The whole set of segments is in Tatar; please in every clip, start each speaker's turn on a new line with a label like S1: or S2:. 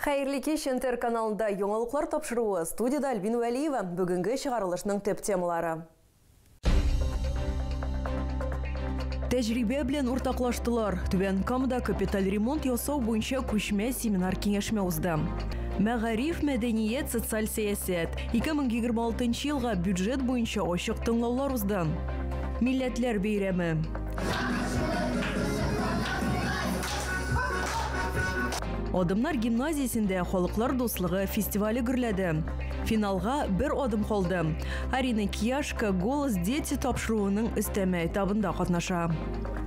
S1: Хәерле кич, Интер каналында яңалыклар тапшыруы, студияда Альбин Вәлиева, бүгенге чыгарылышның төп темалары. Тәҗрибә белән уртаклаштылар. Түбән Камада капиталь ремонт ясау буенча күчмә семинар-киңәшмә узды. Мәгариф, мәдәният, социаль сәясәт. 2026 елга бюджет буенча ачык тыңлаулар узды. Милләтләр бәйрәме. Адымнар гимназиясендә халыклар дуслыгы фестивале гөрләде. Финалга бер адым калды. Арина Кияшка Голос дети тапшыруының өстәмә этабында катнаша.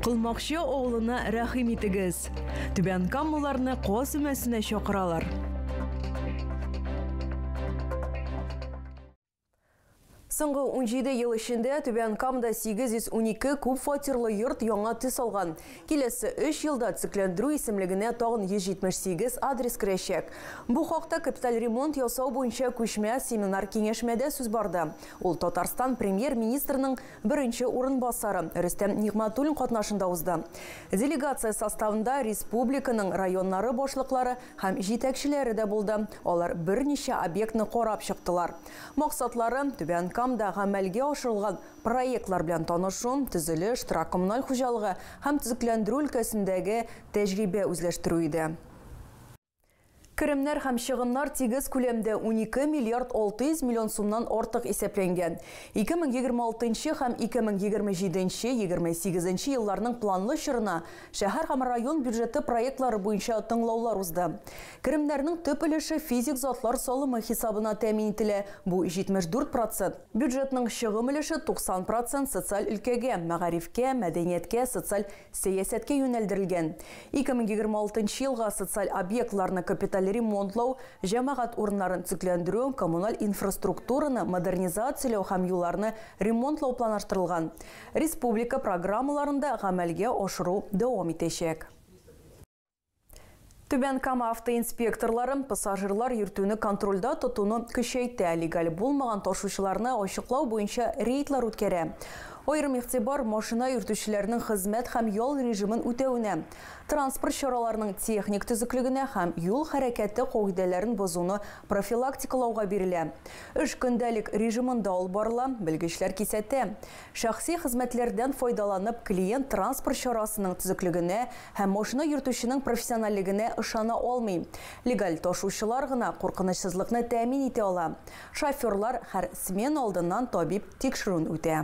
S1: Кылмакчы авылына рәхим итегез. Түбән Каммаларны Каз өмәсенә чакыралар. Соңгы 17 ел эчендә Түбән Камда 812 күп фатирлы йорт яңа төс алган. Киләсе 3 елда төзекләндерү исемлегенә тагын 178 адрес керәчәк. Бу хакта капиталь ремонт ясау буенча күчмә семинар-киңәшмәдә сүз барды. Ул Татарстан Премьер-министрының беренче урынбасары Рөстәм Нигъмәтуллин катнашында узды. Делегация составында республиканың районнары башлыклары, Һәм җитәкчеләре дә булды. Алар берничә объектны карап чыктылар. Максатлары, Түбән Камда гамәлгә ашырылган проектлар белән танышу, төзелеш, торак-коммуналь хуҗалыгы һәм төзекләндерү өлкәсендәге тәҗрибә үзләштерү иде. Керемнәр һәм чыгымнар тигез күләмдә, унике миллиард алты йөз миллион сумнан артык исәпләнгән. Ике мең егерме алтынчы һәм ике мең егерме җиденче, егерме сигезенче елларның планлы чорына Шәһәр һәм район бюджеты проектлары буенча тыңлаулар узды. Керемнәрнең төп өлеше физик затлар салымы хисабына тәэмин ителә, бу, 74 процент. Бюджетның чыгым өлеше 90 процент социаль өлкәгә, мәгарифкә, мәдәнияткә, социаль сәясәткә юнәлдерелгән. 2026 елга социаль объектларны капиталь ремонтлау, җәмәгать урыннарын төзекләндерү, коммуналь инфраструктураны модернизацияләү һәм юлларны ремонтлау планлаштырылган. Республика программаларын да гамәлгә ашыру дәвам итәчәк. Түбән Кама автоинспекторлары пассажирлар йөртүне контрольдә тотуны көчәйтә, легаль булмаган ташучыларны ачыклау буенча рейдлар үткәрә. Аерым игътибар машина йөртүчеләрнең хезмәт һәм ял режимын үтәвенә, транспорт чараларының техник төзеклегенә һәм юл хәрәкәте кагыйдәләрен бозуны профилактикалауга бирелә. Эш көндәлек режимында алып барыла, белгечләр кисәтә. Шәхси хезмәтләрдән файдаланып, клиент транспорт чарасының төзеклегенә һәм машина йөртүченең профессиональлегенә ышана алмый. Легаль ташучылар гына куркынычсызлыкны тәэмин итә ала. Шоферлар һәр смена алдыннан табиб тикшерүен үтә.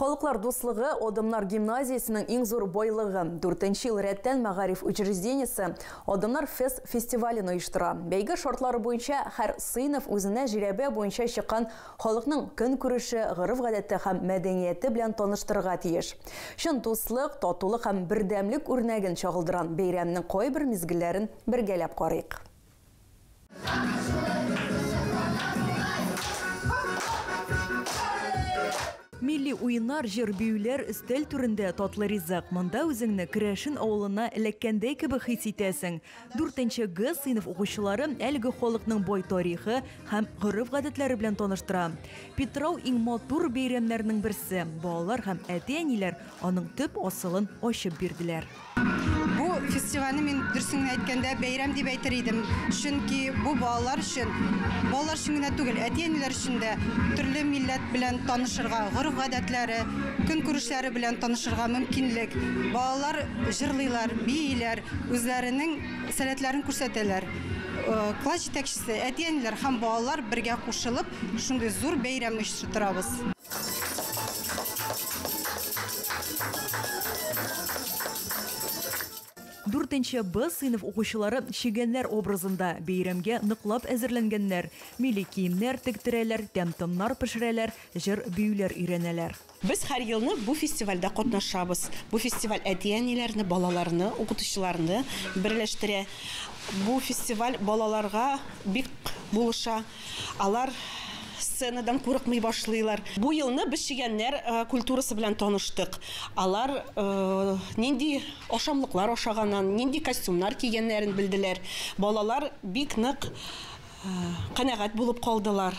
S1: Халыклар дуслыгы Адымнар гимназиясенең иң зур байлыгы. Дүртенче ел рәттән мәгариф учреждениесе Адымнар фест фестивален оештыра. Бәйге шартлары буенча һәр сыйныф үзенә жирәбә буенча чыккан халыкның көнкүреше, гореф-гадәте һәм мәдәнияте белән таныштырырга тиеш. Чын дуслык, татулык һәм бердәмлек үрнәген чагылдырган бәйрәмнең кайбер мизгелләрен бергәләп карыйк. Милли уеннар, җыр-биюләр, өстәл түрендә татлы ризык. Монда үзеңне Керәшен авылына эләккәндәй кебек хис итәсең. Дүртенче Г сыйныф укучылары әлеге халыкның бай тарихы һәм гореф-гадәтләре белән таныштыра. Питрау иң матур бәйрәмнәрнең берсе. Балалар һәм әти-әниләр аның төп асылын ачып бирделәр. Бу фестивальне мин дөресен генә әйткәндә бәйрәм дип әйтер идем. Чөнки бу балалар өчен, балалар өчен генә түгел, әти-әниләр өчен дә төрле милләт белән танышырга, гореф-гадәтләре, көнкүрешләре белән танышырга мөмкинлек. Балалар җырлыйлар, бииләр, үзләренең сәләтләрен күрсәтәләр. Э, класс җитәкчесе, әти-әниләр һәм балалар бергә кушылып, шундый зур бәйрәм оештырабыз. Дүртенче Б сыйныф укучылары чегәннәр образында бәйрәмгә ныклап әзерләнгәннәр, милли киемнәр тектерәләр, тәм-томнар пешерәләр, җыр-биюләр өйрәнәләр. Без һәр елны бу фестивальдә катнашабыз. Бу фестиваль әти-әниләрне, балаларны, укытучыларны берләштерә. Бу фестиваль балаларга бик булыша. Алар сценадан курыкмый башлыйлар. Бу елны без чегәннәр культурасы белән таныштык. Алар нинди ашамлыклар ашаганнан, нинди костюмнар кигәннәрен белделәр. Балалар бик нык канәгать булып калдылар.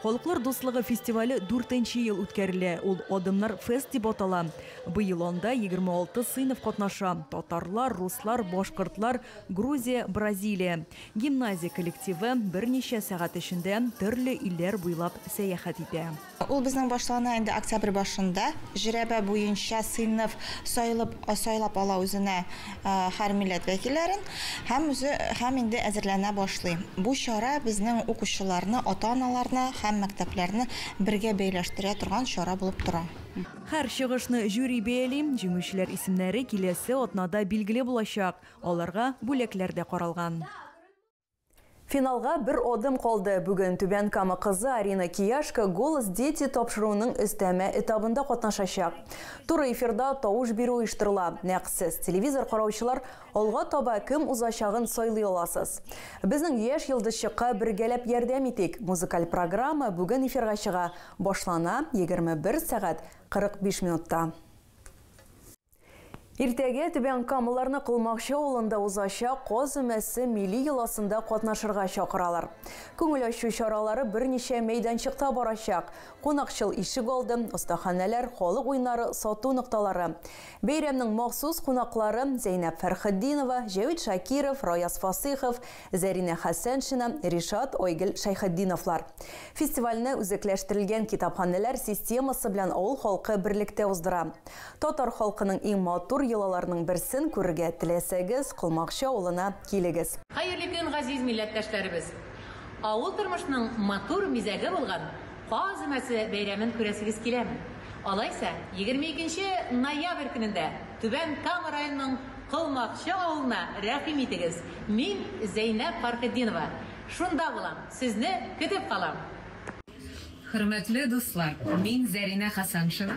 S1: Халыклар дуслыгы фестивале дүртенче ел үткәрелә. Ул Адымнар фест дип атала. Быел анда 26 сыйныф катнаша, татарлар, руслар, башкортлар, Грузия, Бразилия. Гимназия коллективы берничә сәгать эчендә төрле илләр буйлап сәяхәт итә. Ул безнең башлана инде октябрь башында. Жрәбә буенча сыйныф сайлап ала үзенә. һәр милләт вәкилләрен һәм үзе һәм инде әзерләнә башлый. Бу чара безнең укучыларны, ата-аналарны һәм мәктәпләрне бергә бәйләштерә торган чара булып тора. Һәр чыгышны жюри бәяли, җиңүчеләр исемнәре киләсе атнада билгеле булачак, аларга бүләкләр дә каралган. Финалга бер адым калды. Бүген Түбән Кама кызы Арина Кияшка Голос дети тапшыруының өстәмә этабында катнашачак. Туры эфирда тавыш бирү оештырыла. Нәкъ сез, телевизор караучылар, алга таба кем узачагын сайлый аласыз. Безнең яшь йолдызчыкка бергәләп ярдәм итик! Музыкаль программа бүген эфирга чыга, башлана, 21 сәгать 45 минутта. Иртәгә Түбән Камаларны Колмакчы авылында узачак Каз өмәсе милли йоласында катнашырга чакыралар. Күңел ачу чаралары берничә мәйданчыкта барачак, кунакчыл ишегалды, остаханәләр, халык уеннары, сату нокталары. Бәйрәмнең махсус кунаклары, Зәйнәб Фәрхетдинова, Җәвит Шакиров, Раяз Фасыйхов, Зәринә Хәсәншина, Ришат, Айгөл Шәйхетдиновлар. Фестивальне үзәкләштерелгән китапханәләр системасы белән авыл халкы берлектә уздыра. Татар халкының иң матур йолаларының берсен күрергә теләсәгез, Колмакчы авылына килегез. Хәерле көн, газиз милләттәшләребез! Авыл тормышының матур мизәге булган Каз өмәсе бәйрәмен күрәсегез киләме? Алайса, егерме икенче ноябрь көнендә Түбән Кама районының Колмакчы авылына рәхим итегез, мин, Зәйнәб Фархетдинова, шунда булам, сезне көтеп калам! Хөрмәтле дуслар, мин Зәринә Хәсәншина,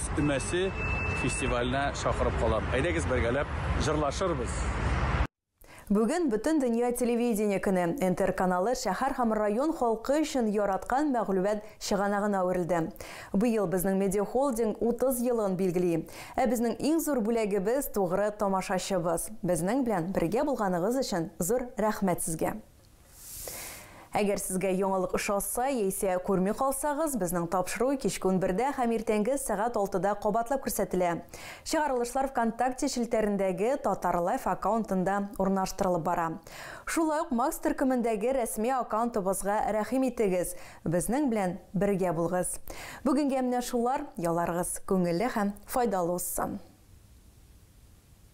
S1: Өстәмәсе фестивальнә чакырып калам. Әйдәгез бергәләп җырлашырбыз! Бүген Бөтендөнья телевидение көне. НТР каналы шәһәр һәм район халкы өчен яраткан мәгълүмат чыганагына әверелде. Быел безнең медиахолдинг 30 елын билгели. Ә безнең иң зур бүләгебез, тугры тамашачыбыз. Безнең белән бергә булганыгыз өчен зур рәхмәт сезгә! Әгәр сезгә яңалык ошаса, яисә күрми калсагыз, безнең тапшыру кичке унбердә һәм иртәнге сәгать алтыда кабатлап күрсәтелә. Чыгарылышлар ВКонтакте челтәрендәге Татар Лайф аккаунтында урнаштырылып бара. Шулай ук Макс төркемендәге рәсми аккаунтыбызга рәхим итегез, безнең белән бергә булыгыз. Бүгенгә менә шулар, ялларыгыз күңелле һәм файдалы узсын!